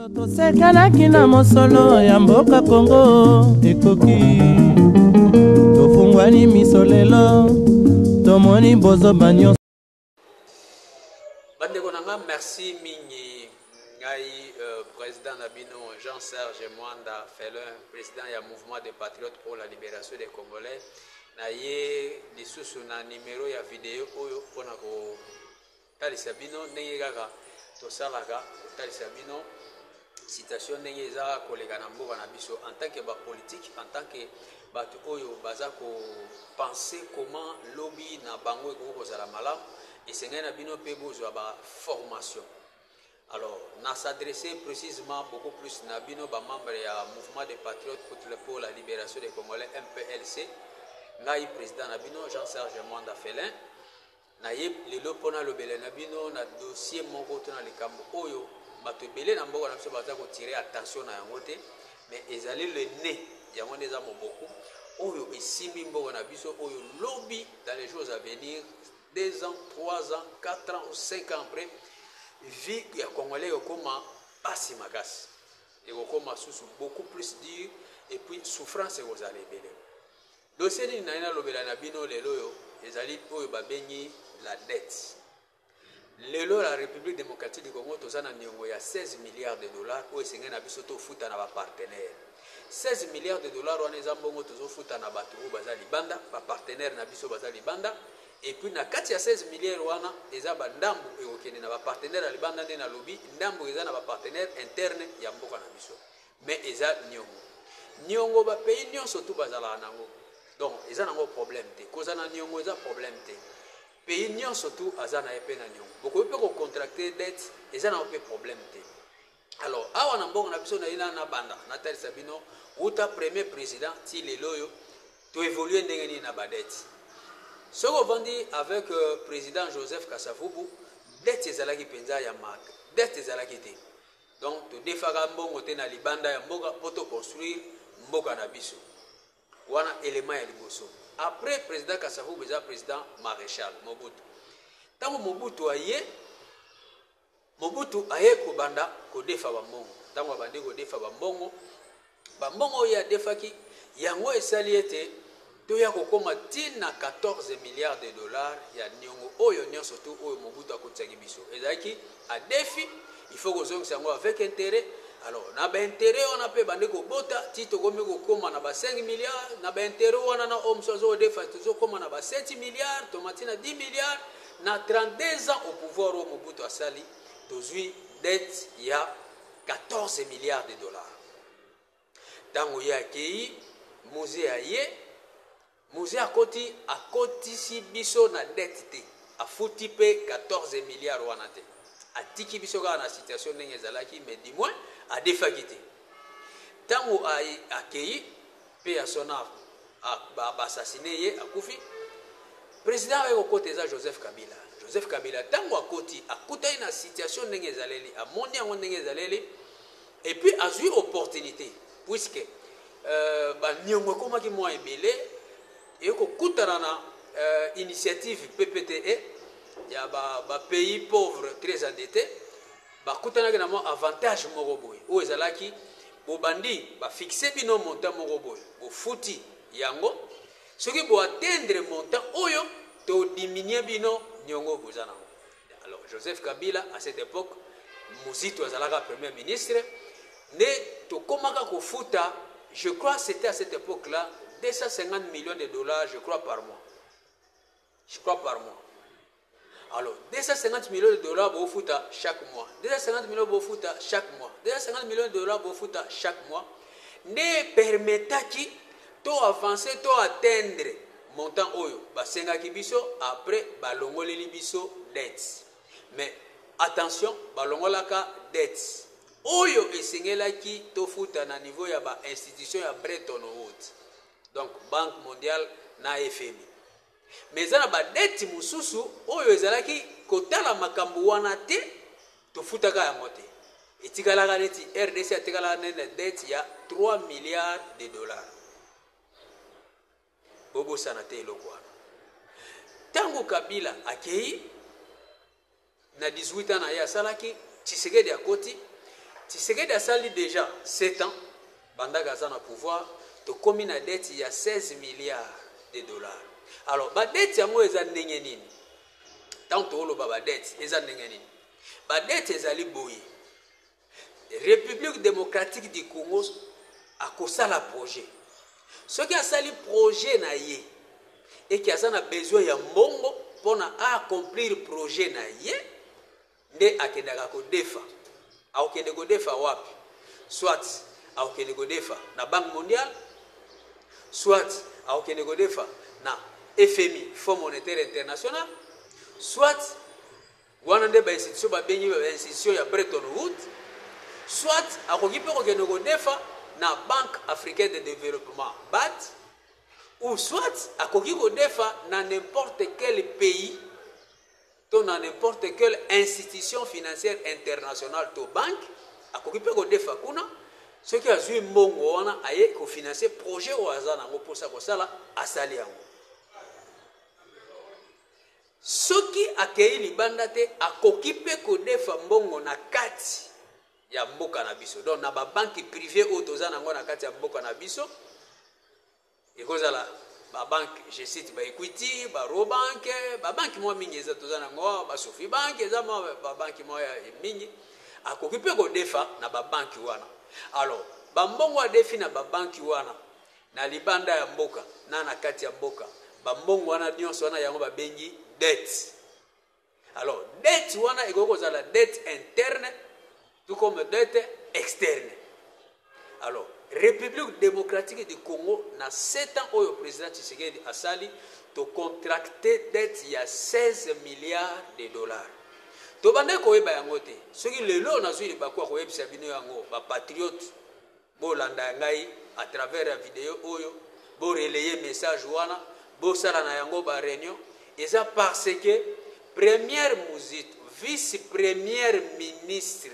Mikolo tosekanaki na mosolo ya mboka Kongo ekoki tofungwani miso lelo tomoni bozoba nyonso bandeko na nga merci mingi ngai euh, président na bino jean serge mwanda felin président ya mouvement de patriote pour la libération des congolais na ye lisusu na numero ya video oyo mpona ko Talisa bino ndenge kaka tosalaka kotalisa bino situation ndenge eza koleka na mboka na biso en tant que ba politique en tant que bato oyo baza ko pense comment lobi na bango ekoki kozala malamu esengeli na bino mpe bozwa ba formation alors na s'adresse précisement beaucoup plus na bino bamembre ya mouvement de patriote pour la libération des congolais mplc ngai président na bino jean serge mwanda felin Naye lelo mpo nalobela na bino na dossier moko to na likambo oyo bato ebele na mboka na biso baza ko tirer attention na yango te mais ezali le nez, yango nde eza moboku oyo esimbi mboka na biso oyo lobi dans les jours à venir, deux ans, trois ans, quatre ans ou cinq ans après, vie ya congolais ekokoma pasi makasi, ekokoma susu beaucoup plus dur et puis souffrance ekozala ebele. Dossier nini naye nalobela na bino lelo oyo ezali oyo babengi la dette. Lelo la Republique democratique du Congo toza na niongo ya 16 milliards de dollars oyo esengeli na biso tofuta na ba partenaires. 16 milliards de dollars wana eza mbongo tozofuta na bato oyo baza libanda, ba partenaires na biso baza libanda et puis na kati ya 16 milliards wana eza ba ndambu ekokende na ba partenaires ya libanda nde nalobi ndambu eza na ba partenaires internes ya mboka na biso. Mais eza niongo. Niongo ba pays nionso tout bazalaka nango. Donc eza nango problème te. Kozala na niongo eza problème te. Pays nionso tout aza na ye pe na niongo. Bokoki pe ko contracter dette eza nango pe problème te. Alors awa na mbongo na biso na ina na banda na talisa bino uta premier président ti lelo oyo to évoluer ndenge nini na ba dette. Soki ovandi avec euh, président Joseph Kasavubu dette ezalaki penza ya marque. Dette ezalaki te. Donc todefaka mbongo te na libanda ya mboka po to construire mboka na biso. Wana element ya liboso. Après president Kasavubu eza president Marechal Mobutu. Tango Mobutu aye Mobutu aye kobanda kodefa ba mbongo. Tango abandi kodefa ba mbongo Bambongo oyo ye adefaki, yango esali ete toya kokoma tii na 14 milliards de dollars ya niongo oyo nionso tout oyo Mobutu akotisaki biso. Ezalaki adefi, il faut kozongisa yango avec interet. Alors, na ba interets wana pe ebandi kobota tii tokomi kokoma na ba 5 milliards, na ba interets wana na oyo mosusu azokodefa tozokoma na ba 7 milliards, toma tii na 10 milliards. Na 32 ans au pouvoir oyo Mobutu asali, tozui dette ya. 14 milliards de dollars ntango ye akei musee aye musee akoti akotisi biso na dette te afuti mpe 14 milliards wana te atiki biso kaka na situation ndenge ezalaki mais du moins adefaki te ntango akei Paix à son ame a ba assassine ye akufi president aye kokota eza Joseph Kabila Joseph Kabila tango akoti akutani na situation ndenge ezaleli amoni yango ndenge ezaleli et puis azui opportunité puisque euh, ba niongo ekomaki mwa ebele et kokutana na euh, initiative PPTE ya ba, ba pays pauvres très endettés Bakutanaki na mwa avantage moko boye, oyo ezalaki bobandi ba fixer bino montant moko boye, bofuti yango soki bo atteindre montant oyo to diminuer bino niongo boza na yango. Alors Joseph Kabila à cette epoque, Muzitu azalaka premier ministre, nde tokomaka kofuta, je crois c'etait à cette epoque là 250 millions de dollars je crois par mois. je crois par mois alors 250 millions de dollars bofuta chaque mois 250 millions bofuta chaque mois 250 millions de dollars bofuta chaque mois nde permetaki to avancer to atteindre montant oyo basengaki biso après balongoleli biso dette mais attention balongolaka dette oyo esengelaki tofuta na niveau ya bainstitution ya breton woods donc banque mondiale na FMI. Mais eza na ba dettes mosusu oyo ezalaki kotala makambo wana te, tofutaka yango te. Etikalaka neti RDC atikalaka neti na dette ya 3 milliards de dollars. Bobosana te eloko wana. Tango Kabila akei Na 18 ans na ye asalaki Tshisekedi akoti Tshisekedi asali dejà 7 ans bandaka aza na pouvoir tokomi na dette ya 16 milliards de dollars alors ba dette yango eza ndenge nini ntango tooloba ba dette eza ndenge nini ba dette ezali boye Republique democratique du Congo akosala projet. Soki asali projet na ye eke aza na besoin ya mbongo mpo na a accomplir projet na ye nde akendaka kodefa. Akokende kodefa wapi? Soit akokende kodefa na Banque mondiale, soit akokende kodefa na FMI, Fonds monétaire international, soit Wana nde ba institutions babengi ba institutions ya Bretton Woods, soit akoki mpe kokende kodefa na Banque africaine de developpement, bad, ou soit akoki kodefa na n'importe quel pays to na n'importe quelle institution financière internationale to banque, akoki mpe kodefa kuna soki azwi mbongo wana aye kofinanse projet oyo aza nango mposa kosala asali yango Soki akeyi libanda te, akoki mpe kodefa mbongo na kati ya mboka na biso. Donc na ba banki prive oyo toza na yango na kati ya mboka na biso, ekozala ba banki, je cite ba Equity, ba Robank, ba banki mwa mingi eza toza na yango, ba Sofi Bank, eza mwa ba banki mwa mingi. Akoki mpe kodefa na ba banki wana. Alors, ba mbongo adefi na ba banki wana, Na libanda ya mboka na na kati ya mboka, ba mbongo wana nionso wana yango ba bengi dette. Alors dette wana ekoki kozala dette interne tout comme dette externe. Alors Republique democratique du Congo na 7 ans oyo president Tshisekedi asali to contracte dette ya 16 milliards de dollars. tobandaki koyeba yango te soki lelo nazwi libaku ya koyebisa bino yango bapatriote Bo landa ya ngai à travers ya video oyo, bo relayer message wana, bo sala na yango ba reunion, eza parce que première Muzito, vice première ministre,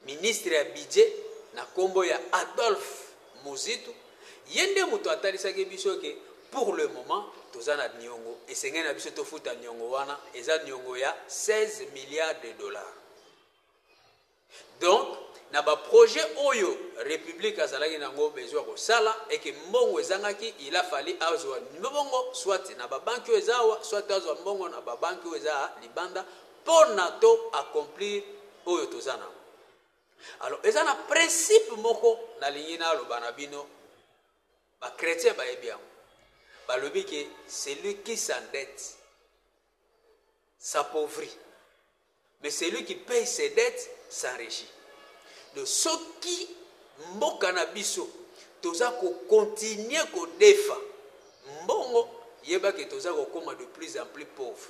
ministre ya budget na kombo ya Adolphe Muzito, ye nde moto atalisaki biso que pour le moment toza na niongo esengeli na biso tofuta niongo wana eza niongo ya 16 milliards de dollars Donc na ba projets oyo republique azalaki nango besoin ya kosala et que mbongo ezangaki il a fallu azua mbongo soit na ba banki oyo eza awa soit azua mbongo na ba banki oyo eza libanda mpo na to accomplir oyo toza nango. Alors eza na principe moko nalingi naloba na bino ba chrétiens bayebi yango balobi ke celui qui s'endette s'appauvrit Mais celui qui paye ses dettes s'enrichit donc soki mboka na biso toza ko continuer ko defa mbongo yeba que toza ko koma de plus en plus pauvre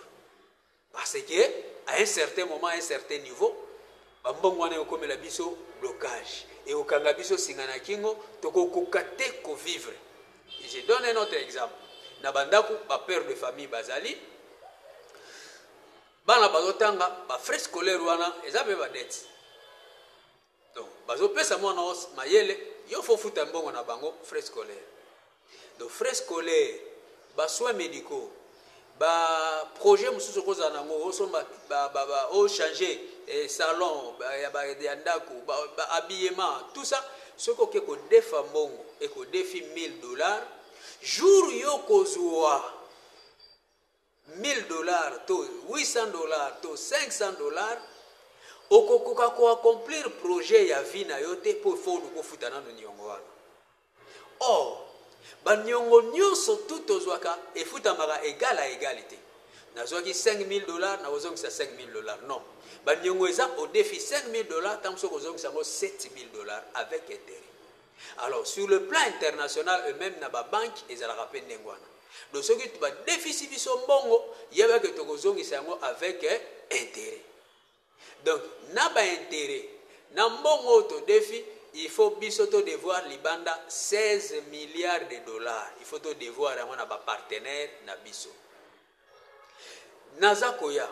parce que à un certain moment à un certain niveau ba mbongo wana ekomela biso blocage et okanga biso singa na kingo toko koka te ko vivre et je donne un autre exemple na bandako ba père de famille bazali bana bazotanga ba frais scolaire wana eza mpe badete donc bazopesa mwana os mayele yo fo futa mbongo na bango frais scolaire donc frais scolaire basoins médicaux baprojet mosusu okozala nango osomba ochange eh, salon ya ndako bahabillement tout ça soki oke kodefa mbongo ekodefi 1000 dollars jour yo kozwa 1000 dollars to 800 dollars to 500 dollars okokoka ko accomplir projet ya vie na yo te mpo il faut oluka ofuta nano niongo wana or baniongo nyonso tu tozwaka efutamaka egal a egal te nazwaki 5000 dollars nakozongisa 5000 dollars non baniongo eza odefi 5000 dollars ntango soki ozongisa yango 7000 dollars avec interet Alors sur le plan international et meme na ba banques ezalaka pe ndenge wana. Donc soki ba defisi biso mbongo yeba que toko zongisa yango avec interet. Donc na ba interet na mbongo oyo to defi il faut biso to devoir libanda 16 milliards de dollars. Il faut to devoir yango na ba partenaires na biso. Naza koya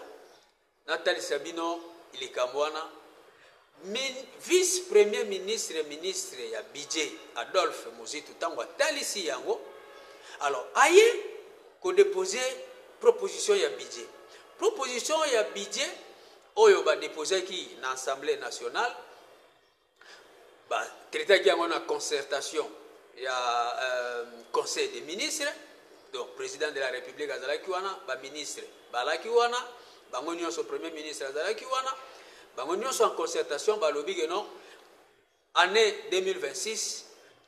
Natalisa bino likambo wana, Min, vice premier ministre, ministre ya budget Adolphe Muzitu tango atalisi yango, alors aye ko deposer proposition ya budget. Proposition ya budget oyo ba deposaki na Assemblee nationale, Ba traitaki yango na concertation ya euh, conseil des ministres donc président de la république azalaki wana baministre balaki wana bango nyonso premier ministre azalaki wana bango nyonso en concertation balobi ke non année 2026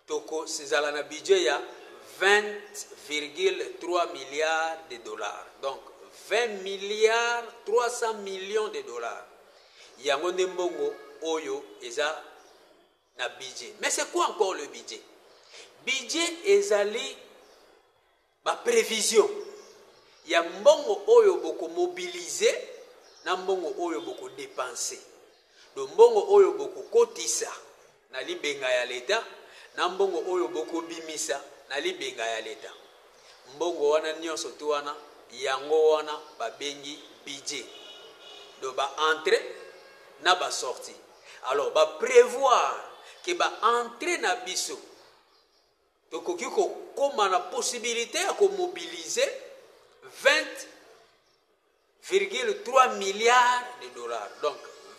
Toko szala na budget ya 20,3 milliards de dollars, donc 20 milliards 300 millions de dollars. Yango nde mbongo oyo eza na budget. Mais c'est quoi encore le budget? Budget ezali Ba previsions ya mbongo oyo boko mobiliser na mbongo oyo boko depenser. Donc mbongo oyo boko kotisa na libenga ya l'Etat na mbongo oyo boko bimisa na libenga ya l'Etat. Mbongo wana nionso tout wana yango wana ba bengi budget. Donc ba entrees na ba sorties. Alors ba prevoir que ba entrees na biso Tokoki kokoma na possibilite ya ko mobiliser 20,3 milliards de dollars. Donc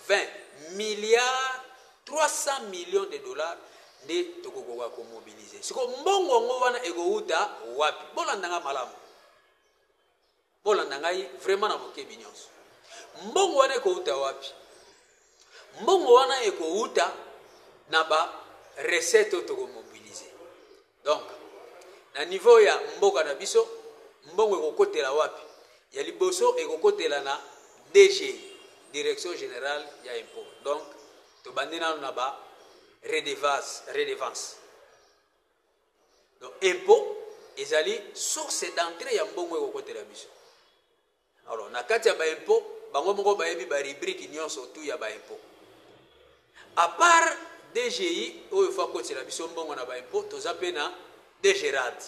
20 milliards 300 millions de dollars nde tokokoka komobilize siko mbongo yango wana ekowuta wapi bolanda nga malamu Bolanda ngai vraiment na bokebi nionso. Mbongo wana ekouta wapi? Mbongo wana ekouta na ba recette oyo toko mobiliser. Donc na niveau ya mboka na biso mbongo ekokotela wapi? Ya liboso ekokotela na DG, Direction Generale ya Impôt. Donc tobandi nano na ba redevance, redevance. Donc impot ezali source d'entrée ya mbongo ekokotela biso. Alors na kati ya ba impot bango moko bayebi ba rubrique nyonso tout ya ba impot. À part DGI oyo fa kotela biso mbongo na ba impot toza pe na DGRAD.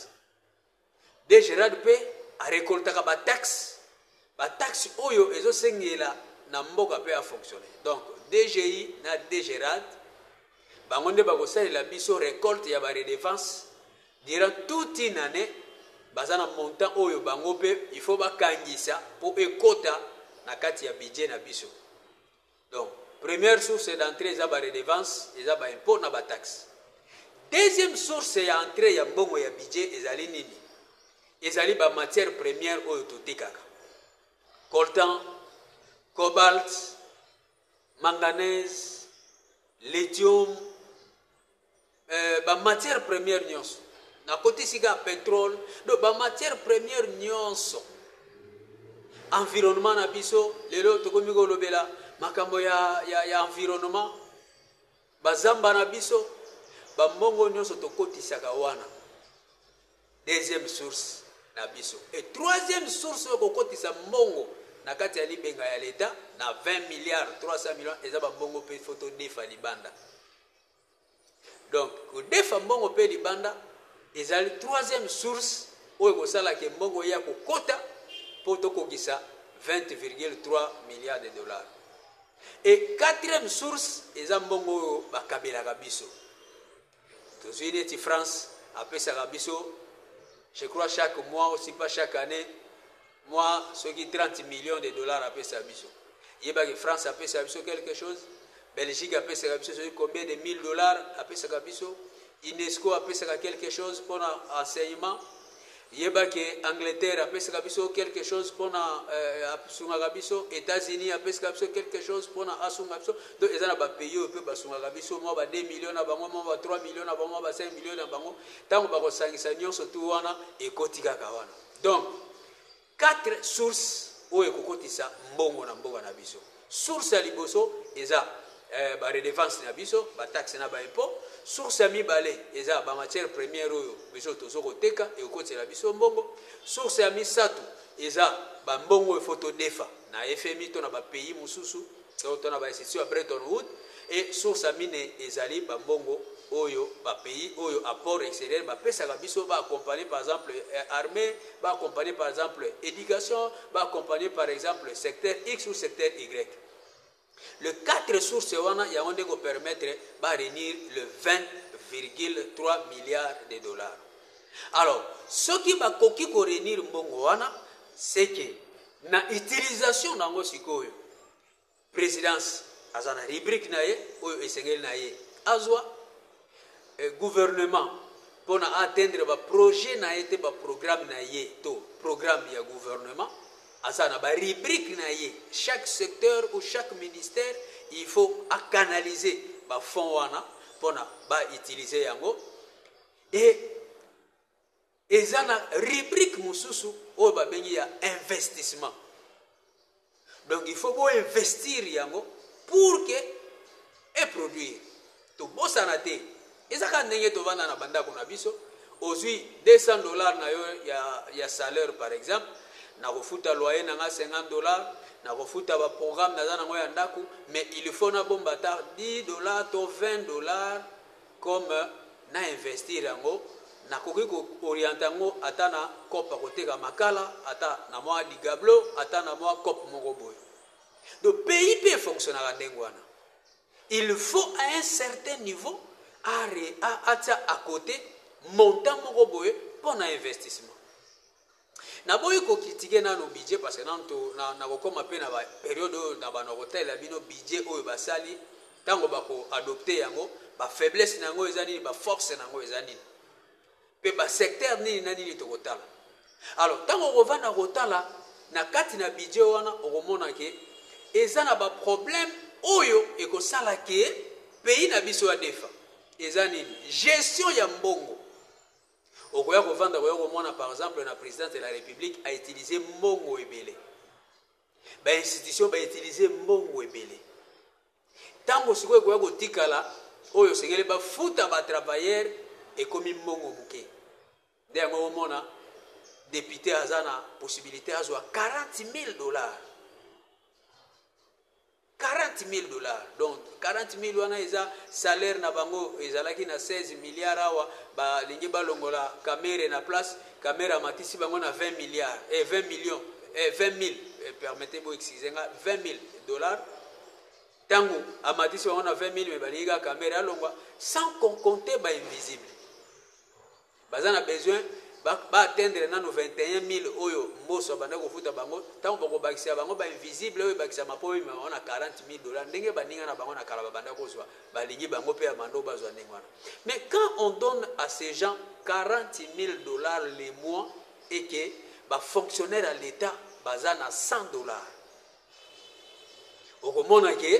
De Gerard mpe a recoltaka ba taxes, ba taxes oyo ezo sengela na mboka mpe a fonctionner. Donc DGI na De Gerard bango nde bakosalela biso recolte ya ba redevances durant toute une année baza na montant oyo bango mpe il faut bakangisa mpo ekota na kati ya budget na biso. Donc première source d'entree eza ba redevances, eza ba impots na ba taxes. Deuxième source ya entree ya mbongo ya budget ezali nini? Ezali ba matières premières oyo totekaka. Coltan, cobalt, manganèse, lithium, eh, ba matière première nyonso nakoti sika ya petrole do ba matière première nyonso environnement na biso lelo tokomi kolobela makambo ya, ya, ya environnement bazamba na biso bambongo nyonso tokotisaka wana deuxième source na biso e troisième source oyo kokotisa mbongo na kati ya libenga ya leta na 20 milliard 300 million eza bambongo mpe foto defa libanda Donc kodefa mbongo mpe libanda ezali troisième source oyo ekosala ke mbongo eya kokota mpo tokokisa 20,3 milliards de dollars. Et quatrième source eza mbongo oyo bakabelaka biso. Tozwi neti France apesaka biso je crois chaque mois aussi pas chaque année Mwa soki 30 millions de dollars apesa biso. Yeba ke France apesa biso quelque chose, Belgique apesaka biso soki combien de 1000 dollars apesaka biso, UNESCO apesaka quelque chose pona enseignement. Yeba ke Angleterre apesaka biso quelque chose pona euh, asungaka biso, États-Unis apesaka biso quelque chose pona asunga biso. Donc eza na ba pays oyo pe basungaka biso mwa ba 2 millions na bango, mwa ba 3 millions na bango, mwa ba 5 millions na bango. Tango bakosangisa nyonso tu wana ekoti kaka wana. Donc, quatre sources oyo ekokotisa mbongo na mboka na biso. Source ya liboso eza eh, ba redevance na biso, ba taxe na ba impôt. Source ya mibale eza ba matière première oyo biso tozo koteka ekokotisa biso mbongo. Source ya misato eza ba mbongo il faut todefa na FMI to na ba pays mosusu Nsotona ya ba institutions ya Bretton Woods e source ya minei ezali ba mbongo oyo ba pays oyo apport exterieur ba pesaka biso ba accompagner par exemple armee, ba accompagner par exemple education, ba accompagner par exemple secteur X ou secteur Y. Le quatre sources wana yango nde ko permettre ba reunir le 20,3 milliards de dollars. Alors soki ba koki ko reunir mbongo wana c'est que Na utilisation na yango sikoyo presidence aza na rubrique na ye oyo esengeli na ye azwa eh, gouvernement mpo na atteindre baprojet na ye te baprogramme na ye to programme ya gouvernement aza na barubrique na ye chaque secteur ou chaque ministère il faut acanaliser bafond wana mpo na bautilize yango e Eza na rubrique mususu oyo ba bengi ya investissement donc il faut bo investir yango pour que e produire tobosana te eza kaka ndenge tovanda na bandako na biso ozwi 200 dollars na yo ya, ya salaire par exemple nakofuta loyer na nga 50 dollars nakofuta baprogramme naza nango ya ndako mais il faut nabomba ata 10 dollars to 20 dollars Comme na investir yango nakoki ko orienter yango ata na coop ya koteka makala ata na mua ligablo ata na mua coop moko boye donc pays pe e fonctionnaka ndenge wana il faut à un certain niveau atia à cote montant moko boye mpo na investissement Na boyi ko critiquer nanu budget parce que nanu nako koma pe na ba periode oyo na bano bako talela bino budget oyo ba sali tango bako adopter yango ba faiblesse na yango eza nini ba force na yango eza nini pe ba secteur nini na nini toko tala alors tango oko vanda ko tala na kati na budget wana oko mona ke eza na ba problème oyo eko sala ke pays na biso ya defa eza nini gestion ya mbongo Okoya kovanda koya komona par exemple na president de la republique a utilise mbongo ebele ba institution ba utilise mbongo ebele ntango sikoyo ekoya kotikala oyo osengeli bafuta batravailleur ekomi mbongo moke nde yango omona depute aza na possibilité azwa 40 000 dollars 40.000 dollars donc 40.000 wana eza salaire na bango ezalaki na 16 milliards awa ba lingi ba longola kamere na place kamere amatisi bango na 20 milliards et eh, 20 millions et eh, 20.000 eh, permettez moi excusez nga 20.000 dollars tango amatisi bango na 20.000 mais ba lingi ka kamere alongwa sans qu'on compte ba invisible Baza na besoin ba ba atteindre nanu 21000 oyo mboso abandaki kofuta bango tango bakobakisela bango ba invisible oyo ebakisama po bemema bango na 40000 dollars ndenge baninga na bango na kala babandaki kozwa balingi bango pe ya mando bazwa ndenge wana mais quand on donne à ces gens 40000 dollars le mois et que ba fonctionnaire ya l'etat baza na 100 dollars okomona ke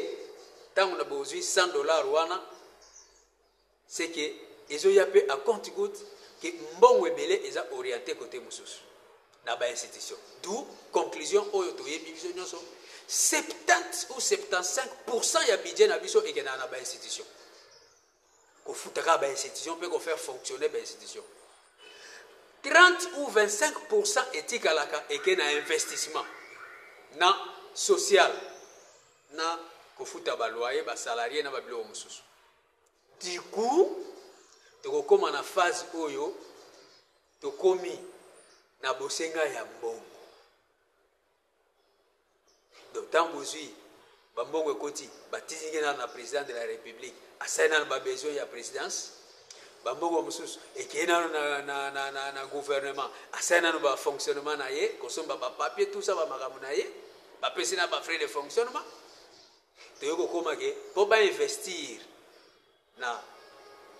ntango na bozwi 100 dollars wana C'est que ezo ya pe à compte goutte que mbongo ebele eza orienter cote mususu na ba institutions. D'où conclusion oyo to yebi biso nyoso 70 ou 75% ya budget na biso ekenda na ba institutions. Ko futaka ba institutions pe ko faire fonctionner ba institutions. 30 ou 25% etikalaka eke na investissement na social na kofuta baloyer basalarie na babiloko mosusu Du coup, tokokoma na phase oyo tokomi na bosenga ya mbongo. Donc, tant bozui bambongo ekoti batizingi nano na président de la république asali nano babesoin ya présidence bambongo mosusu ekei nano na, na, na, na, na gouvernement asali nano bafonctionnement na ye kosomba bapapier tusa bamakambo na ye bapesi na bafrais de fonctionnement Toye kokoma ke po ba investir na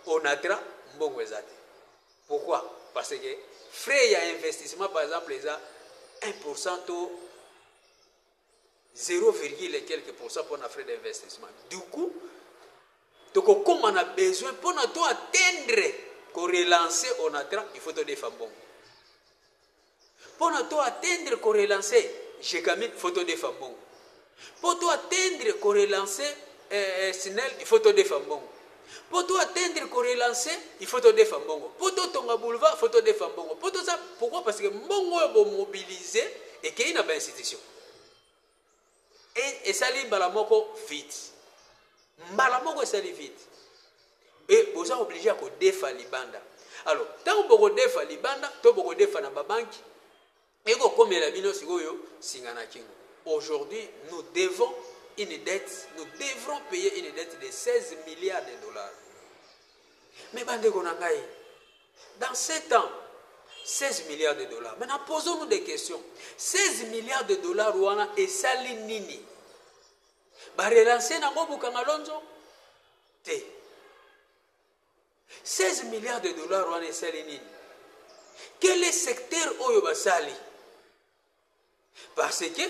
Onatra mbongo eza te. Pourquoi? Parce que frais ya investissement par exemple eza 1% to 0, quelques pourcents pour na frais d'investissement. Du coup, tokokoma na besoin mpo na to atteindre ko relancer Onatra, il faut todefa mbongo. Pona to atteindre ko relancer Gegamine faut to defa mbongo. Po to atteindre ko relancer eh, Snel il faut to defa mbongo. Po to atteindre ko relancer il faut to defa mbongo. Po to tonga boulevard faut to defa mbongo. Po to za pourquoi parce que mbongo oyo bo mobiliser ekei na ba institutions. Et esali mbala moko vite. Mbala moko esali vite. Et boza obligé ya kodefa libanda. Alors, ntango bokodefa libanda to bokodefa na babanki, ekokomela bino sikoyo singa na kingo. Aujourd'hui, nous devons une dette, nous devrons payer une dette de 16 milliards de dollars. Mais bande ko na ngai, Dans ce temps 16 milliards de dollars. Maintenant, posons-nous des questions. 16 milliards de dollars wana esali nini? Ba relancer nango Bukangalonzo? Te. 16 milliards de dollars wana esali nini? Quel est secteur oyo basali? Parce que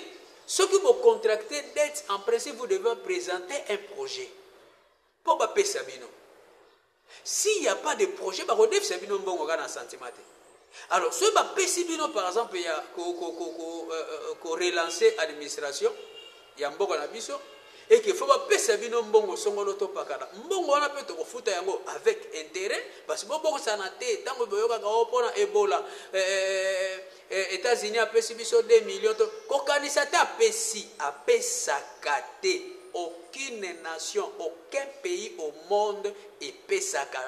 soki bo contracter dette en principe vous devez presenter un projet mpo bapesa bino. S'il n'y a pas de projet bakodefisa bino mbongo kaka na sentiment te. Alors soki bapesi bino par exemple ya ko, ko, ko, ko, euh, euh, ko relancer administration ya mboka na biso eke fo bapesa bino mbongo songolo topakana mbongo wana mpe tokofuta yango avec intérêt parce bobokosana te ntango boyokaka o oh, mpona ebola eh, eh, eh, Eh etats unis apesi biso deux millions to ko kanisa ata apesi apesaka te aucune nation aucun pays au monde epesaka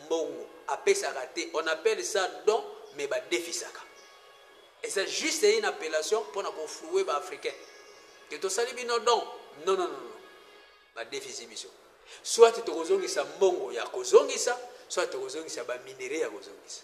mbongo apesaka te on appelle ça don mais ba defisaka eza juste une appellation pona ko flouer ba africain que tosali bino don non non non ba defisi biso soit tokozongisa mbongo ya kozongisa soit tokozongisa ba minerais ya kozongisa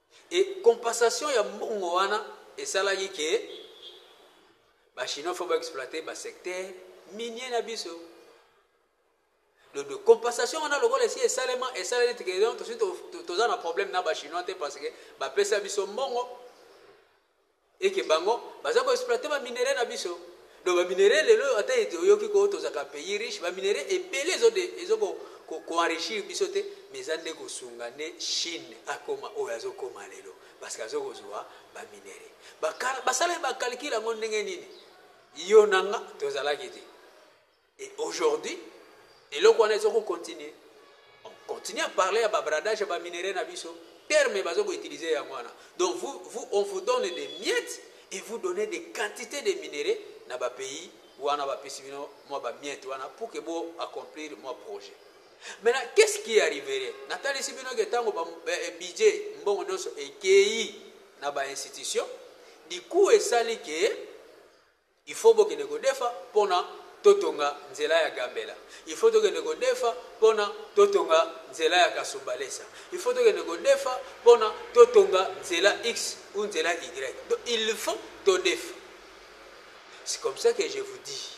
Et compensation ya mbongo wana esalaki que ba chinois faut ba exploiter ba secteurs miniers na biso. Donc de compensation wana lokola esi esalema esaleli te que donc tosi toza na problème na ba chinois te parce que ba pesa biso mbongo et que bango baza ko exploiter ba minerais na biso donc ba minerais lelo oyo ata oyoki ko tozaka pays riche ba minerais ebele ezo de ezo ko ko ko enrichir biso te mais eza nde ko sunga nde chine akoma oyo azo koma lelo parce que azo ko zua ba minerais ba kala basala ba calcul yango ndenge nini yo na nga tozalaki te Et aujourd'hui eloko wana ezo ko continuer on continue à parler ya ba bradage ya ba minerais na biso terme bazo ko utiliser yango wana donc vous, vous on vous donne des miettes et vous donnez des quantités de minerais na ba pays wana ba pesi bino mwa ba miettes wana pour que bo accomplir mwa projet maintenant qu'est ce qui arriverait natalisi bino ke ntango eh, eh, budget mbongo nyonso ekei na ba institution du coup esali ke Il faut bokende kodefa pona totonga nzela ya gambela il faut tokende kodefa pona totonga nzela ya kasumbalesa il faut tokende kodefa pona totonga nzela x ou nzela y donc il faut todefa c'est comme ça que je vous dis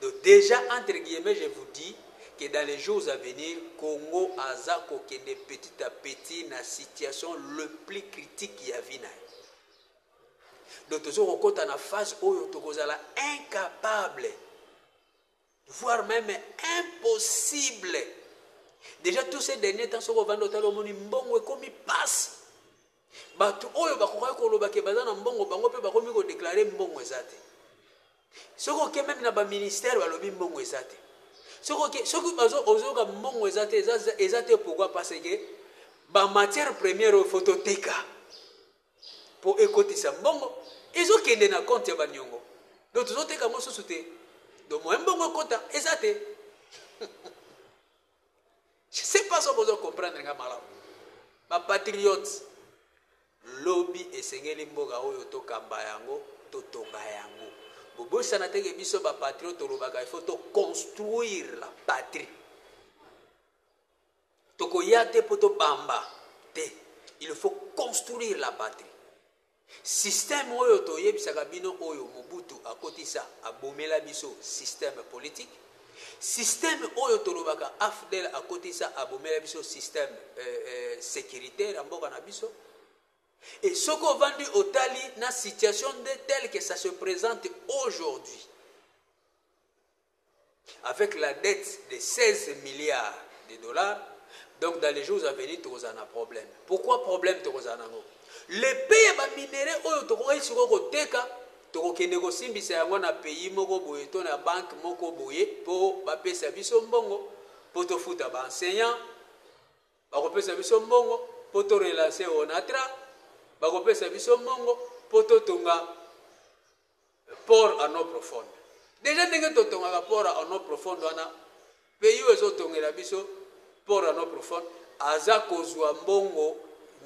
Donc dejà entre guillemets je vous dis que dans les jours à venir Congo aza kokende petit à petit na situation le plus critique ya vie na ye. Donc tozo kokota na phase oyo tokozala incapable voire même impossible. Déjà tous ces derniers temps soko vanda otala omoni mbongo ekomi passe. Batu oyo bakokaki koloba ke baza na mbongo bango pe bakomi ko declarer mbongo eza te. Soki oke meme na ba ministère balobi mbongo eza te. Soki oke soki bazo ozoyoka mbongo eza te eza eza te pourquoi parce que ba matière première oyo faut toteka po ekotisa mbongo ezokende na compte ya baniongo donc tozoteka yango susu te donc moyen mbongo ekota eza te Je sais pas soki bozo comprendre nga malamu. Ba patriotes lobi esengeli mboka oyo tokamba yango, totonga yango. Bobosana te ke biso ba patriotes tolobaka il faut to construire la patrie. Tokoya te po tobamba te. Il faut construire la patrie. Système oyo toyebisaka bino oyo Mobutu akotisa abomela biso système politique, système oyo tolobaka afdl akotisa abomela biso système securitaire ya mboka na biso et soki ovandi otali na situation nde telle que ça se presente aujourd'hui Avec la dette de 16 milliards de dollars donc dans les jours à venir tokozala na problème pourquoi problème tokozala nango le paix ya ba minerais oyo tokokaki sikoyo koteka tokokende kosimbisa yango na pays moko boye to na banque moko boye mpo bapesa biso mbongo mpo tofuta ba enseignant bakopesa biso mbongo mpo to relancer onatra bakopesa biso mbongo mpo totonga Port en eau profonde dejà ndenge totongaka port en eau profonde wana pays oyo ezotongela biso port en eau profonde aza kozua mbongo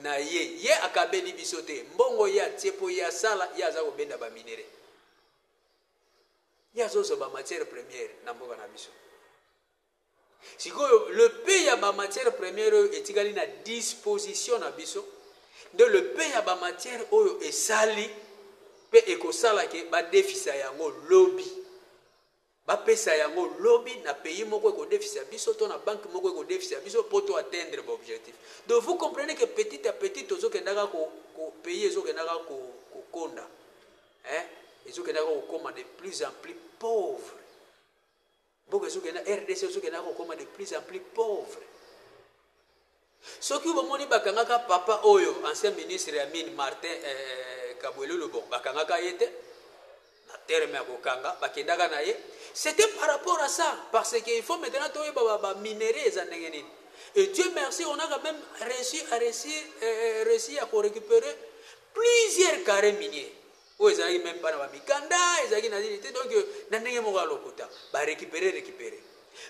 na ye ye akabeli biso te mbongo ye atie mpo ye asala ye aza kobenda ba minerais ye azozwa ba matière première na mboka na biso Sikoyo le paie ya ba matières premières oyo etikali na disposition na biso nde le paie ya ba matières oyo esali pe ekosala ke ba defisa yango lobi. Ba pesa yango lobi na pays moko eko defisa biso to na banque moko eko defisa biso po to atteindre ba objectif. Donc vous comprenez que petit à petit tozo kendaka ko, ko pays ezo kendaka ko, ko konda. Hein? Ezo kendaka ko koma de plus en plus pauvre. Mboka ezo kende rdc ezo kende ko koma de plus en plus pauvre. Soki bomoni bakangaka papa oyo ancien ministre ya mine Martin eh, Kabwele Lobo bakangaka ye te na terme ya kokanga bakendaka na ye c'était par rapport à ça parce que il faut maintenant toyeba ba, ba minerais eza ndenge nini et Dieu merci on a quand même réussi à réussir, euh, réussi à récupérer plusieurs carrés miniers Oyo ezalaki meme pas na ba mikanda, ezalaki na nini te, donc na ndenge moko ya lokuta, ba recuperer, recuperer.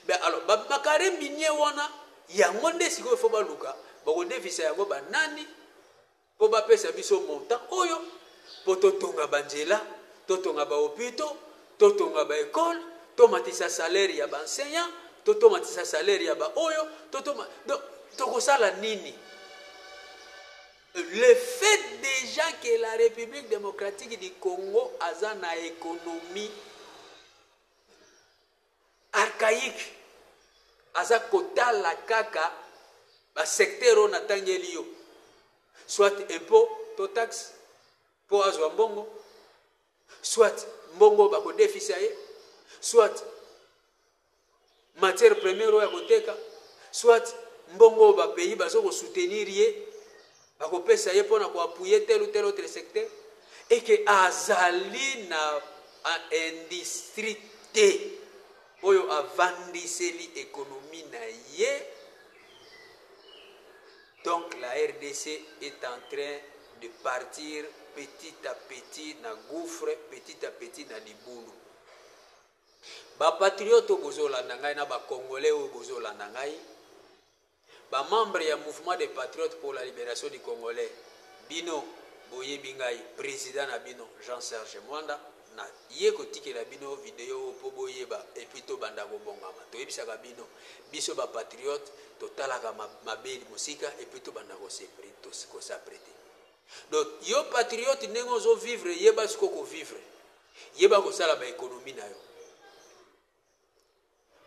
Ben alors ba macarons miniers wana, yango nde sikoyo il faut baluka bakodefisa yango ba nani, mpo bapesa biso montant oyo, mpo totonga ba nzela, totonga ba hopitaux, totonga ba ecoles, tomatisa salaire ya ba enseignants, to tomatisa salaire ya ba oyo, to toma donc tokosala nini? Le fait dejà que la Republique democratique du Congo aza na economie archaïque, aza kotala kaka ba secteur oyo natangeli yo, soit impôt to taxe mpo azwa mbongo, soit mbongo bakodefisa ye, soit matière première oyo akoteka soit mbongo oyo bapayi bazo kosoutenir ye bakopesa ye mpo na koapuye tel ou tel autre secteur eke azali na industrie te oyo avandiseli ekonomi na ye donc la rdc est en train de partir petit à petit na gouffre petit à petit na libulu Ba patriotes oyo bozo landa ngai na ba congolais oyo bozo landa ngai ba membres ya mouvement des patriotes pour la liberation du congolais bino boyebi ngai president na bino Jean Serge Mwanda na ye kotikela bino video oyo po boyeba et puis tobanda kobongama toyebisaka bino biso ba patriotes totalaka mabe mosika et puis tobanda kosapre te donc yo patriote ndenge ozo vivre yeba siko ko vivre Yeba kosala ba economie na yo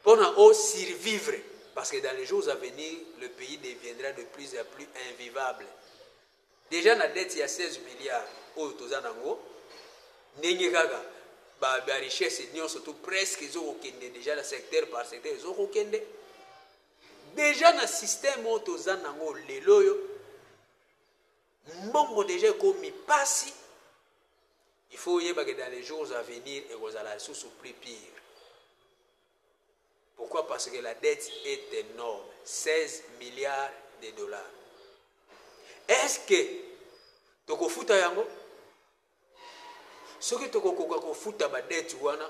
pona o survivre parce que dans les jours à venir le pays deviendra de plus en plus invivable. Deja na dette ya 16 milliards oyo toza nango ndenge kaka ba, ba richesse nyonso tout presque ezokokende deja na secteur par secteur ezokokende deja na système oyo toza nango lelo oyo Mbongo dejà ekomi pasi il faut oyeba que dans les jours à venir ekozala lisusu plus pire pourquoi parce que la dette est énorme 16 milliards de dollars est ce que tokofuta yango soki tokokoka kofuta badete wana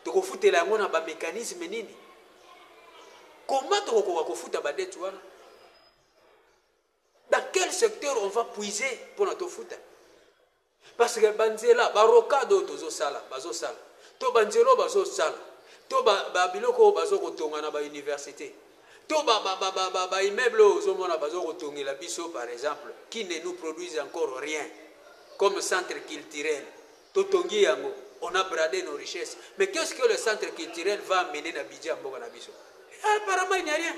tokofutela yango na bamécanisme nini koma tokokoka kofuta badete wana Dans quel secteur on va puiser pona tofuta? Parce que banzela, ba rocade oyo tozosala, bazosala, to banzela oyo bazosala, to ba, ba biloko oyo bazokotonga na ba université, to ba, ba, ba, ba, ba, ba immeuble oyo ozomona bazokotongela biso par exemple, qui ne nous produisent encore rien comme centre culturel, To tongi yango, on a brade nos richesses mais qu'est ce que le centre culturel va amener na budget ya mboka na biso? Apparemment il n'y a rien.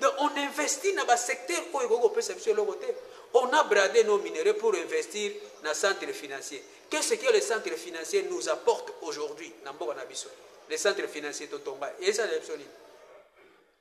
Donc on investit na ba secteurs oyo ekoki kopesa biso eloko te. On a brade nos minerais pour investir na centre financier. Qu'est ce que le centre financier nous apporte aujourd'hui na mboka na biso? Le centre financier to tonga, eza na biso nini?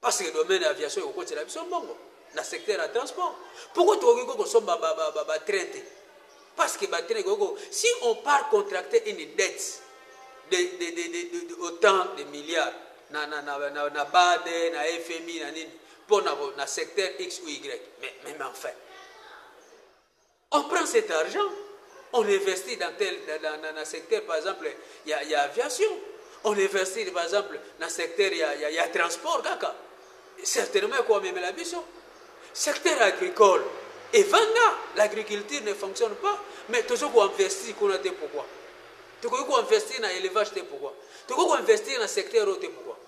Parce que domaine ya aviation ekokotela biso mbongo na secteur ya transport. Pourquoi tokoki ko kosomba ba ba ba, ba train te? Parce que ba train koko si on part contracter une dette de de de de, de, de autant de milliards na na na na, na BAD na FMI na nini pour na na secteur X ou Y. Mais mais enfin On prend cet argent, on investit dans tel, dans, dans, dans secteur par exemple ya, ya aviation, on investit par exemple na secteur ya, ya, ya transport kaka certainement ekomemela biso secteur agricole evanda l'agriculture ne fonctionne pas mais tozo koinvestir kuna te pourquoi tokoki koinvestir na élevage te pourquoi tokoki koinvestir na secteur oyo te pourquoi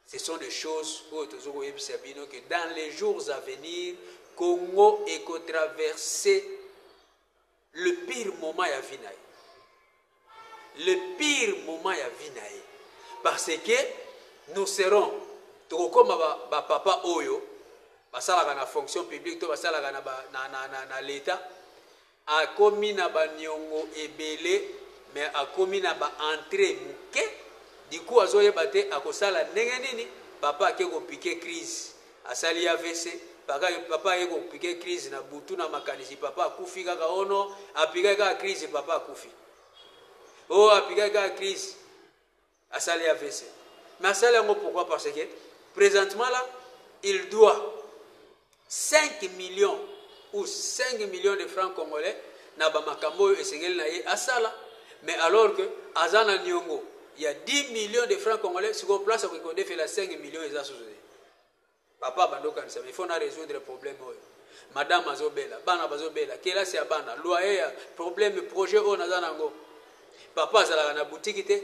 Ce sont des choses oyo tozo ko yebisa bino que dans les jours à venir Congo eko traverser le pire moment ya vie na ye. Le pire moment ya vie na ye. Parce que nous serons tokokoma ba, ba papa oyo basalaka na fonction publique to basalaka na, na, na, na, na l'etat Akomi na ba niongo ebele mais akomi na ba entree muke du coup azo yeba te ako sala ndenge nini papa ake ko pique crise asali avc papa aye ko pique crise na butu na makanisi papa akufi kaka oh non apikaki kaka crise papa akufi oh apikaki kaka crise Asali avc mais asali yango pourquoi parce que presentement là il doit 5 millions ou 5 millions de francs congolais na bamakambo oyo esengeli na ye asala mais alors que aza na niongo ya 10 millions de francs congolais sikoyo place akoki kodefela 5 millions eza susu te Papa banda okanisa mais il faut na resoudre problème oyo madame azo bela bana bazo bela kelasi ya bana loyer ya problème projet oyo naza nango papa azalaka na boutique te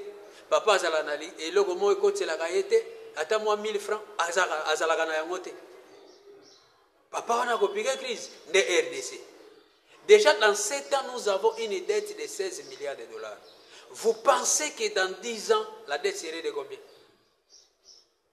papa azalaka na eloko moko ekotelaka ye te ata mwa 1000 francs azalaka na yango te papa wana akopike crise nde rdc déjà dans 7 ans nous avons une dette de 16 milliards de dollars vous pensez que dans 10 ans la dette serait de combien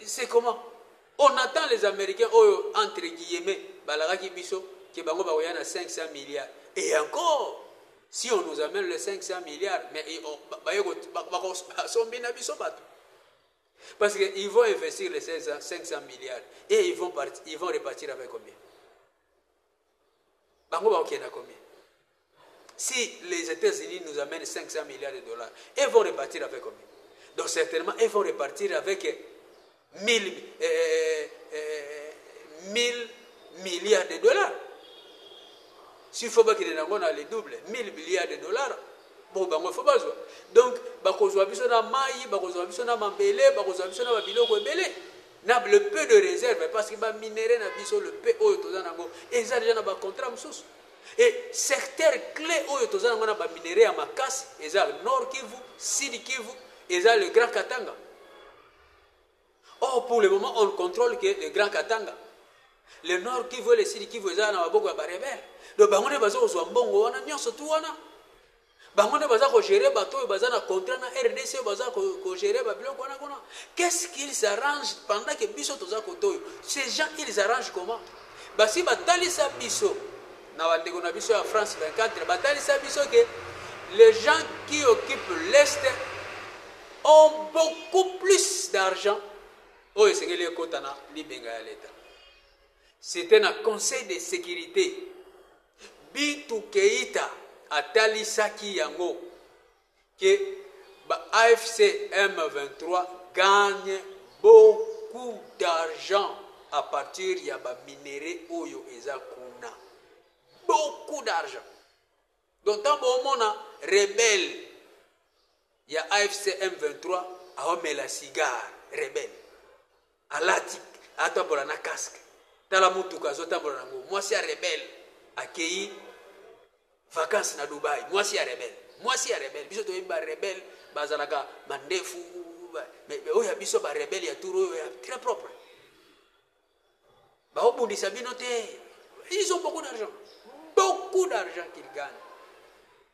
Et c'est comment? On attend les americains oyo entre guillemets balakaki biso que bango bakoya na 500 milliards et encore si on nous amène les 500 milliards mais ils- on- ba- baye ko- ba- bako- basombi na biso bato parce que ils vont investir les 500 500 milliards et ils vont partir, ils vont repartir avec combien bango bakokenda combien si les États-Unis nous amènent 500 milliards de dollars, ils vont repartir avec combien Donc certainement, ils vont repartir avec 1000, euh, euh, euh, euh milliards de dollars. S'il faut pas qu'il y ait le double, 1000 milliards de dollars. Bon, ben, il faut pas jouer. Donc, bakozwa biso na mai, bakozwa biso na mambele, bakozwa biso na babiloko ebele. Na le peu de reserve parce que ba minerais na biso le peu oyo toza na yango eza dejà na ba contrats mosusu et secteur clé oyo toza na yango na ba minerais ya makasi eza Nord Kivu, Sud Kivu, eza le Grand Katanga. Or pour le moment on contrôle que le Grand Katanga. Le Nord Kivu et le Sud Kivu eza na maboko ya ba rebelles. Donc bango nde bazo kozwa mbongo wana nyonso tu wana. Bango nde baza ko gerer batu oyo baza na contrat na rdc oyo baza ko gerer ba biloko wana kuna qu'est ce qu'ils arrangent pendant que biso toza kote oyo ces gens ils arrangent comment basi batalisa biso na bandeko na biso ya France 24 batalisa biso ke les gens qui occupent l'est ont beaucoup plus d'argent oyo oh, esengeli ekota na libenga ya leta c'était na conseil de sécurité Bintou Keita atalisaki yango que ba AFC M23 gagne beaucoup d'argent à partir ya ba minerais oyo eza kuna. Beaucoup d'argent. Donc tant bomona rebelle ya AFC M23 aomela cigare rebelle. Alati azo tambola na casque tala mutuka azo tambola na ngo mwasi ya rebelle akeyi vacances na Dubaï mwasi ya rebelle mwasi ya rebelle biso toyebi ba rebelle bazalaka mandefu mais oyo ya biso ba rebelle ya tour oyo ya très propre baobundisa bino te ils ont beaucoup d'argent beaucoup d'argent qu'ils gagnent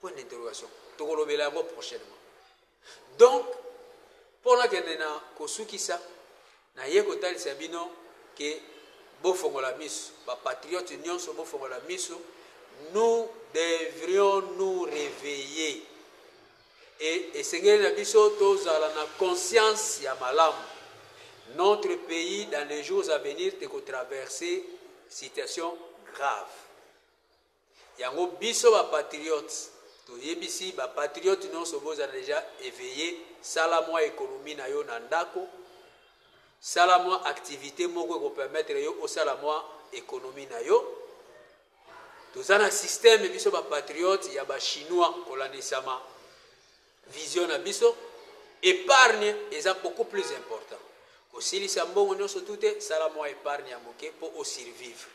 Point d'interrogation. Tokolobela yango prochainement. Donc, mpo nakende na kosukisa, naye kotalisa bino ke bofongola miso, bapatriote nyonso bofongola miso, nous devrions nous réveiller et esengeli na biso tozala na conscience ya malamu notre pays dans les jours à venir tekotraverse situation grave Yango biso ba patriote to yebisi ba patriote nionso bo zala deja eveille sala mwa economie na yo na ndako sala mwa activite moko eko permettre yo osala mwa economie na yo toza na système biso ba patriote ya ba chinois kolandisama vision na biso épargne eza beaucoup plus important kosilisa mbongo nyonso tu te sala mwa épargne ya moke mpo osurvivre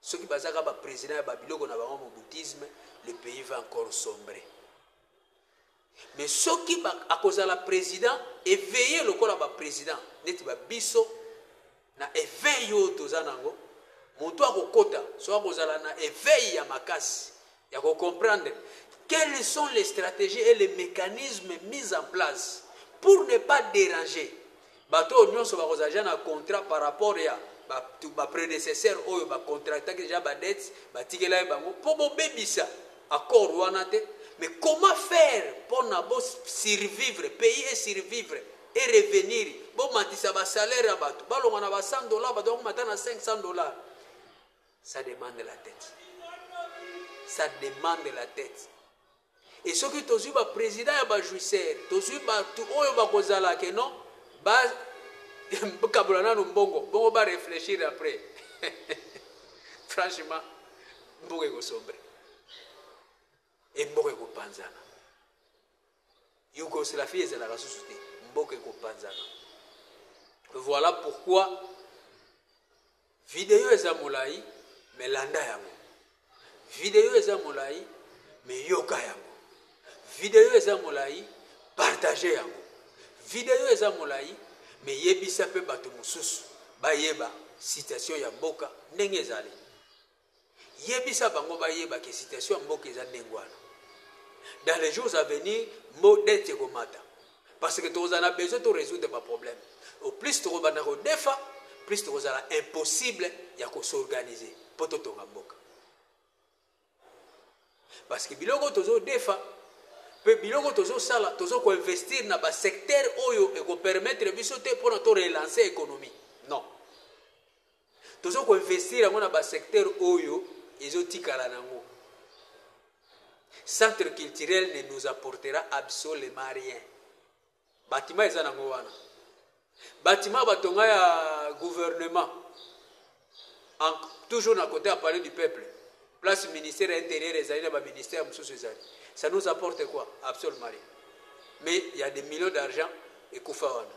Soki baza kaka ba president ya ba biloko na bango mobutisme le pays va encore sombre. Mais soki ba, akozala president eveille lokola ba president neti ba biso na eveil oyo toza nango moto akokota soki akozala na eveil ya makasi ya ko comprendre quelles sont les strategies et les mecanismes mis en place pour ne pas deranger bato oyo nyonso bakozala deja na contrat par rapport ya bapredecesseur oyo bacontractaki deja badete batikelaki bango mpo bobebisa accord wana te mais comment faire mpo na bosurvivre pays e survivre e revenir bomatisa basalaire ya bato balonga na ba 100 dollar bato bakomata na 500 dollar Ça demande la tete. Ça demande la tete. Et soki tozwi ba président ya ba jouisseur, tozwi batu oyo bakozala que non ba kabola nanu mbongo, bongo ba réfléchir après. Franchement, mboka ekosombre. Et mboka ekopanzana. Yougoslavie ezalaka susu te. Mboka ekopanzana. Voilà pourquoi Video eza molayi mais landa yango. Video eza molayi mais yoka yango. Video eza molayi partager yango. Video eza molayi mais yebisa pe bato mosusu bayeba situation ya mboka ndenge ezali. Yebisa bango bayeba que situation ya mboka eza ndenge wana. Dans les jours à venir, mbo dette ekomata. Parce que tokozala na besoin to résoudre ba problème. Au plus tokobanda kodefa, plus tokozala impossible ya ko s'organiser mpo totonga mboka. Parce que biloko tozodefa mpe biloko tozosala tozo koinvestir na basecteur oyo ekopermettre biso te mpona to relancer économie non Tozo ko investir yango na ba secteur oyo ezo tikala nango. Centre culturel ne nous apportera absolument rien. Bâtiment eza nango wana. Bâtiment batonga ya gouvernement en, toujours na côté ya palais du peuple place ministère ya intérieur ezali na ba ministère mosusu ezali ça nous apporte quoi absolument rien mais il y a des millions d'argent ekufa wana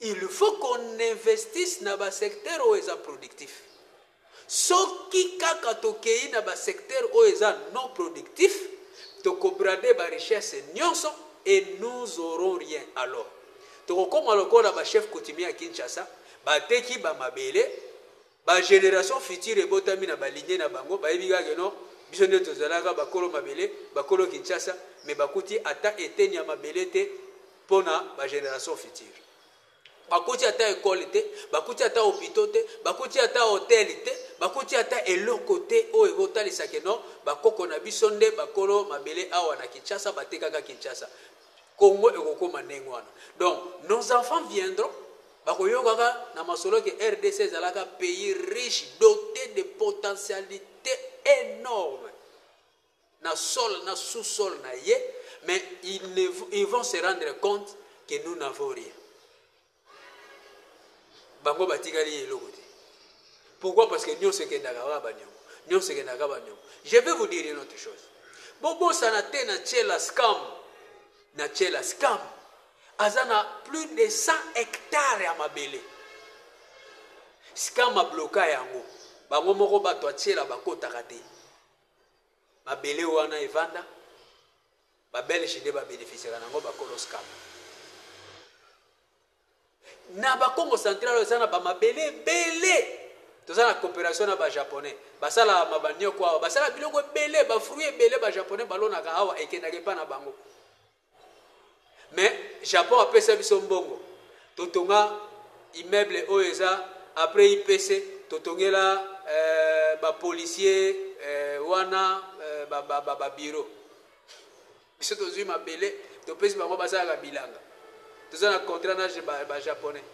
Il faut qu'on investisse na ba secteurs oyo eza productif. Soki kaka tokeyi na ba secteurs oyo eza non productif, toko brader ba richesses nionso et nous aurons rien. Alors, tokokoma lokola ba chefs coutumiers ya Kinshasa, bateki ba mabele Ba generations futures ebotami na ba lignees na bango bayebi kaka que non, biso nde tozalaka bakolo mabele, bakolo Kinshasa, mais bakuti ata eteni ya mabele te mpo na ba generations futures. Bakuti ata ecole te, bakuti ata hopitaux te, bakuti ata hotel te, bakuti ata eloko te oyo ekotalisa que non, bakoko na biso nde bakolo mabele awa na Kinshasa, batekaka Kinshasa. Congo ekokoma ndenge wana. Donc, nos enfants viendront Bakoyokaka na masolo que rdc ezalaka pays riche dote de potentialite enorme na sol na sous sol na ye mais ils, ne, ils vont se rendre compte que nous n'avons rien. Bango batikali eloko te. Pourquoi Parce que nyonso ekendaka kaka baniongo. Nyonso ekendaka baniongo. Je vais vous dire une autre chose. Bobosana te na tiela scam. Na tiela scam. Aza na plus de 100 hectares ya mabele. Scam abloka yango. Bango moko bato atiela bakotaka te. Mabele wana evanda ba belge nde ba bénéficiaka nango ba kolos kama na ba congo central eza na ba mabele ebele toza na coopération na ba japonais basalaka ma banioko awa basalaka biloko ebele ba fruit ebele ba japonais balonaka awa ekendaka epa na bango mais japon apesa biso mbongo totonga immeuble oyo eza après ipc totongela euh, bapolicier euh, wana euh, babiro ba, ba, ba biso tozwi mabele topesi bango basalaka bilanga toza na contrat na bajaponais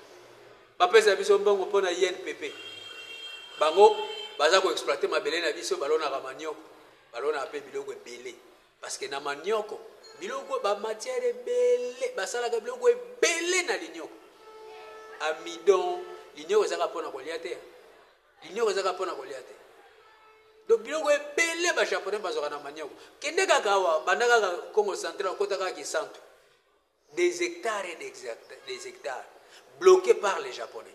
ba bapesa biso mbongo mpo na inpp bango baza koexploite mabele na biso balonaka manioko balonaka mpe biloko ebele Parce que na manioko biloko ba matière ebele basalaka biloko ebele na linioko amidon linioko ezaka mpona kolia te linioko ezaka mpona kolia te donc biloko ebele ba japonais bazwaka na manioko kende kaka awa banda kaka congo central okota kaka kisantu des hectares et des hectares bloqués par les japonais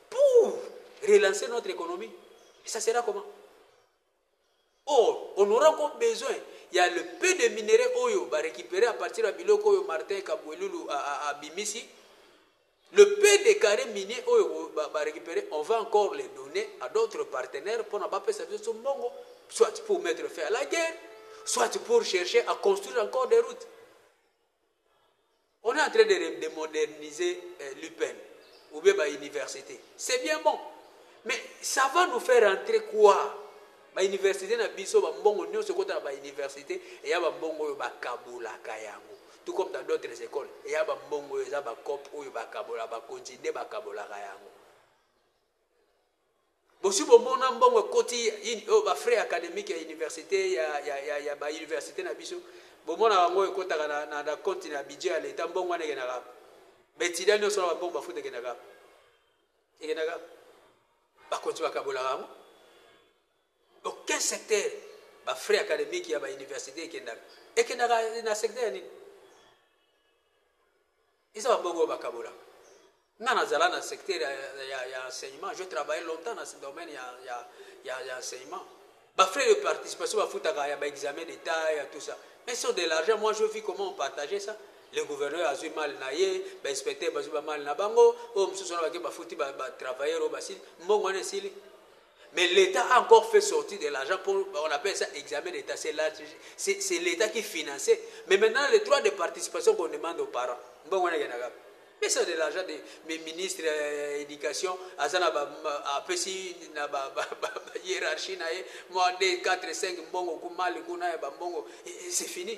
pour relancer notre economie et ça sera comment or on aura encore besoin il y a le peu de minerais oyo ba récupérer à partir ya biloko oyo Martin Kabuelulu abimisi le peu de carré minier oyo ba, ba récupérer on va encore les donner à d'autres partenaires pour na ba pesa biso mbongo soit pour mettre fin à la guerre soit pour chercher à construire encore des routes On est en train de, de moderniser euh, l'UPEN ou bien ba université. C'est bien bon. Mais ça va nous faire entrer quoi Ba université na biso ba mbongo nionso kota na ba université et ya ba mbongo oyo ba kabola kayango. Tout comme dans d'autres écoles, et ya ba mbongo oyo eza ba cop oyo ba kabola ba continue ba kabola kayango. Bosi bomona mbongo ekoti in oyo ba frais academique ya universite ya ya ya ya ba universite na biso bomona yango ekotaka na na, na compte na budget ya l'etat mbongo wana ekendaka wapi ba etudiants nionso na ba mbongo bafuta ekendaka wapi ekendaka wapi bakonzi bakabolaka yango aucun secteur ba frais academique ya ba universite ekendaka ekendaka na secteur ya nini Eza ba mbongo oyo ba kabolaka. Nga na zala na secteur ya, ya enseignement, je travaille longtemps na domaine ya, ya, ya, ya enseignement. Ba frais de participation ba futaka ya ba examen d'etat ya tout ça. Mais sur de l'argent, moi je vis comment on partageait ça. Le gouverneur a zui mal na ye, ba inspecteur ba zui ba mal na bango, oyo mosusu wana bake ba futi ba, ba travailleurs oyo basili, mbongo wana esili. Mais l'etat a encore fait sortir de l'argent pour, on appelle ça examen d'etat, c'est l'etat qui finançait. Mais maintenant, les droits de participation qu'on demande aux parents, bon, on a mais c'est de l'argent de mes ministres euh, éducation, azana ba, ba apesi na ba, ba, ba, ba hiérarchie na ye, moi 2 4 5 mbongo kumali kuna ya ba mbongo, c'est fini.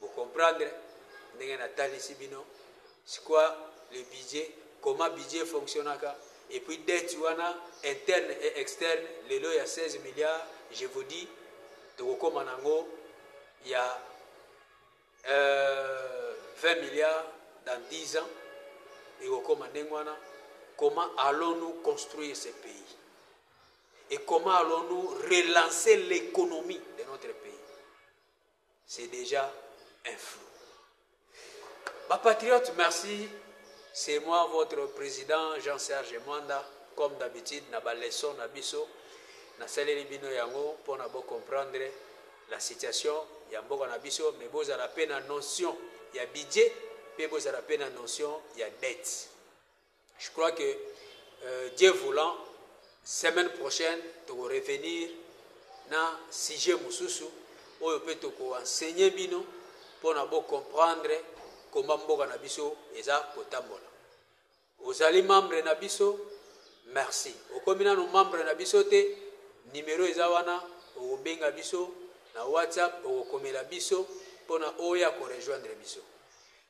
Bo comprendre ndenge na talisi bino ce quoi le budget comment budget fonctionaka et puis dette wana interne et externe lelo ya 16 milliards je vous dis tokokoma nango ya euh, 20 milliards dans 10 ans ekokoma ndenge wana comment allons-nous construire ce pays et comment allons-nous relancer l'économie de notre pays C'est dejà un flou. Ba patriotes merci c'est moi votre president Jean Serge Mwanda comme d'habitude na ba leçons na biso nasaleli bino yango mpo na bo comprendre la situation ya mboka na biso mais bozala mpe na notion ya budget mpe bozala mpe na notion ya dette Je crois que euh, Dieu voulant semaine prochaine toko revenir na sujet mosusu oyo mpe toko enseigner bino mpo na bo comprendre komba mboka na biso eza kotambola ozali membre na biso merci okomi nano membre na biso te nimero eza wana okobenga biso na whatsapp okokomela biso mpo na oya korejoindre biso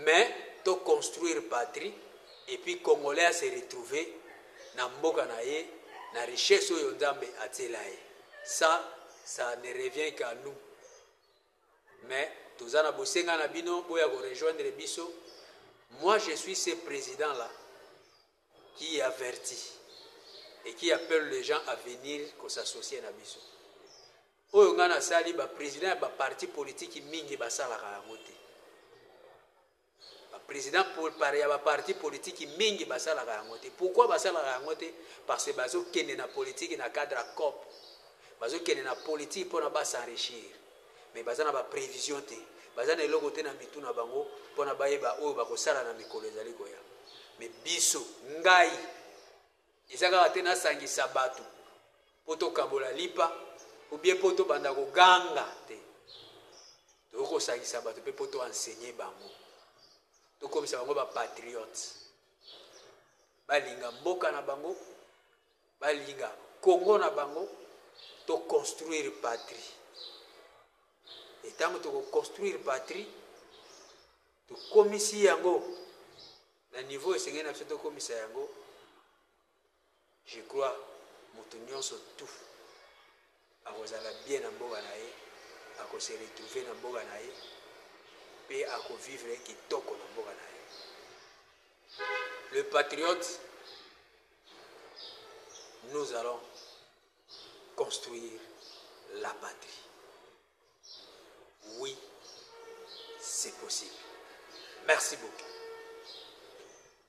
Mais to construire patrie et puis congolais a se retrouver na mboka na ye na richesse oyo Nzambe atiela ye. Ça, ça ne revient qu'à nous. Mais toza na bosenga na bino boya ko rejoindre biso. Moi je suis ce president là. Qui averti et qui appelle les gens à venir ko s'associer na biso? Oyo nga na sali ba president ya ba parti politique mingi ba salaka yango te. Ba president pour par ya ba parti politique mingi ba salaka yango te. Pourquoi ba salaka yango te? Parce que bazo kende na politique na cadre ya COP. Bazo kende na politique pona ba s'enrichir. mais baza na ba previsions te, baza na eloko te na mitu na bango pona bayeba oyo bakosala na mikolo ezali koya. Mais biso, ngai, eza kaka te nasangisa batu po tokabola lipa ou bien po tobanda koganga te, tokoki kosangisa batu pe po to enseigner bango, tokomisa bango ba patriotes, balinga mboka na bango. Balinga Congo na bango to construire patrie et tango toko construire patrie tokomisi yango na niveau esengeli na biso tokomisa yango je crois moto nyonso tout Akozala bien na mboka na ye, ako se retrouver na mboka na ye pe ako vivre kitoko na mboka na ye. Le patriote nous allons construire la patrie oui c'est possible merci beaucoup.